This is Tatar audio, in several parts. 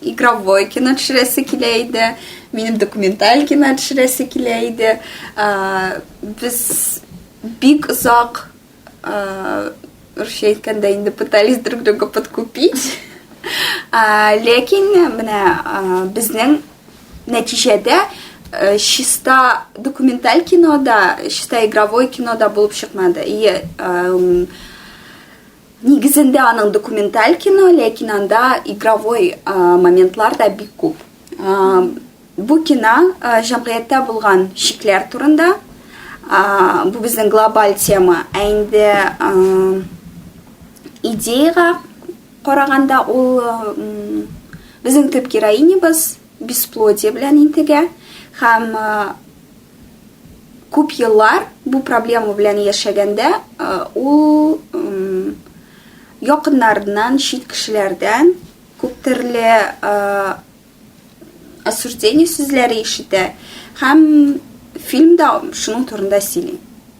Игровой кино төшерәсе килә иде, минем документаль кино төшерәсе килә иде. Без бик озак русча әйткәндә инде пытались друг друга подкупить. Ләкин менә безнең нәтиҗәдә э, чиста документаль кинода, чиста игровой кинода булып чыкмады. И э, Нигезендә аның документаль кино, ләкин анда игровой моментлар да бик күп. Бу кино җәмгыятьтә булган шикләр турында. Бу безнең глобаль тема. Ә инде идеяга караганда ул безнең төп героинябыз бесплодие белән интегә һәм Күп еллар бу проблема белән яшәгәндә, ул якыннарыннан, чит кешеләрдән күп төрле осуждение сүзләре ишетә һәм фильмда шуның турында сөйли.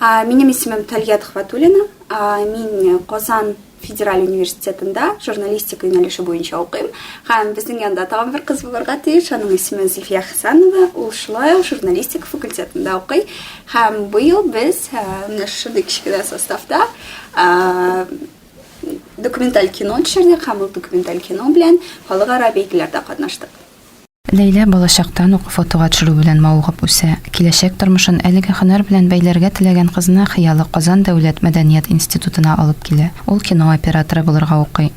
Минем исемем Тальят Хватулина. Мин Казан федераль университетында журналистика юнәлеше буенча укыйм. Һәм безнең янда тагын бер кыз булырга тиеш. Аның исеме Зифия Хәсәнова. Ул шулай ук журналистика факультетында укый. Һәм быел без менә шундый кечкенә составта документаль кино төшердек һәм ул документаль кино белән халыкара бәйгеләрдә катнаштык. Ләйлә балачактан ук фотога төшерү белән мавыгып үсә. Киләчәк тормышын әлеге һөнәр белән бәйләргә теләгән кызны хыялы Казан дәүләт мәдәният институтына алып килә. Ул кино операторы булырга укый.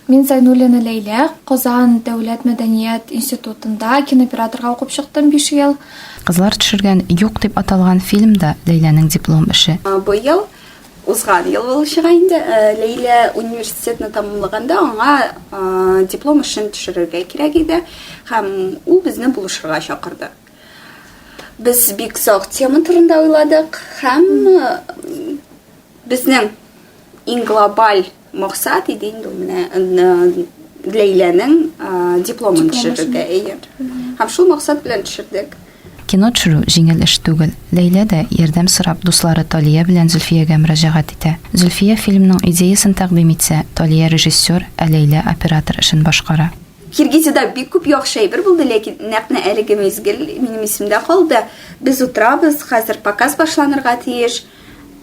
Мин Зайнуллина Ләйлә, Казан дәүләт мәдәният институтында кинооператорга укып чыктым биш ел. Кызлар төшергән Юк дип аталган фильм да Ләйләнең диплом эше. Быел Узган ел булачак инде. Ләйлә университетны тәмамлаганда аңа диплом эшен төшерергә кирәк иде һәм ул безне булышырга чакырды. Без бик зак тема турында уйладык һәм безнең иң глобаль Максат иде инде ул менә Ләйләнең дипломын төшерергә. Әйе. Һәм шул максат белән төшердек. Кино төшерү җиңел эш түгел. Ләйлә дә, ярдәм сорап, дуслары Талия белән Зөлфиягә мөрәҗәгать итә. Зөлфия фильмның идеясын тәкъдим итсә, Талия режиссер, ә Ләйлә оператор эшен башкара. Киргизиядә бик күп яхшы әйбер булды, ләкин нәкъ менә әлеге мизгел минем исемдә калды. Без утырабыз, хәзер показ башланырга тиеш.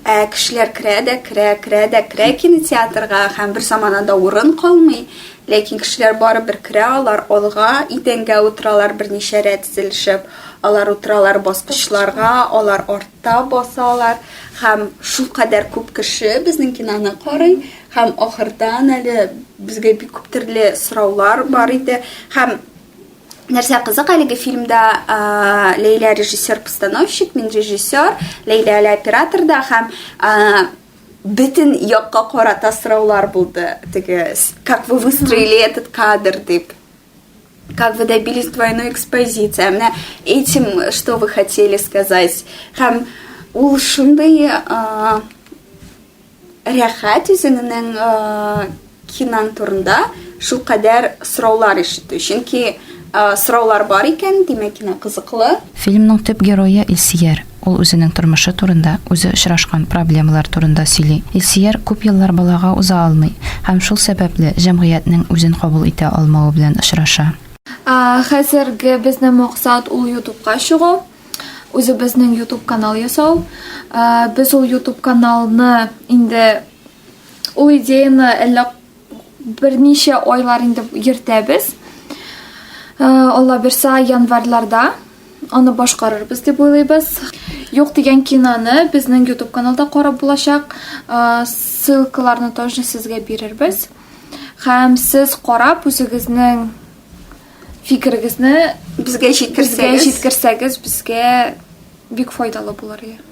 Ә кешеләр керә дә керә, керә дә керә кинотеатрга, һәм бер заманада урын калмый. Ләкин кешеләр барыбер керә, алар алга, идәнгә утыралар, берничә рәт тезелешеп. Алар утыралар баскычларга, алар артта басалар. Һәм шулкадәр күп кеше безнең киноны карый. Һәм ахырдан әле безгә бик күп төрле сораулар бар иде. Һәм Нәрсә кызык әлеге фильмда Ләйлә режиссер-постановщик, мин режиссер, Ләйлә әле оператор да һәм бөтен якка карата сораулар булды. Теге как вы выстроили этот кадр дип. Как вы добились двойной экспозиции? Менә этим что вы хотели сказать? Һәм ул шундый рәхәт үзеңнең кинаң турында шулкадәр сораулар ишетү. Чөнки сораулар бар икән, димәк, кино кызыклы. Фильмның төп герое Илсияр. Ул үзенең тормышы турында, үзе очрашкан проблемалар турында сөйли. Илсияр күп еллар балага уза алмый һәм шул сәбәпле җәмгыятьнең үзен кабул итә алмавы белән очраша. Хәзерге безнең максат ул ютубка чыгу. Үзебезнең YouTube канал ясау. Э, без ул YouTube каналны инде ул идеяны әллә берничә айлар инде йөртәбез. Э, Алла бирса, январьларда аны башкарырбыз дип уйлыйбыз. Юк дигән киноны безнең YouTube каналда карап булачак. Э, ссылкаларны тоже сезгә бирербез. Һәм сез карап үзегезнең Фикерегезне безгә җиткерсәгез, безгә бик файдалы булыр иде.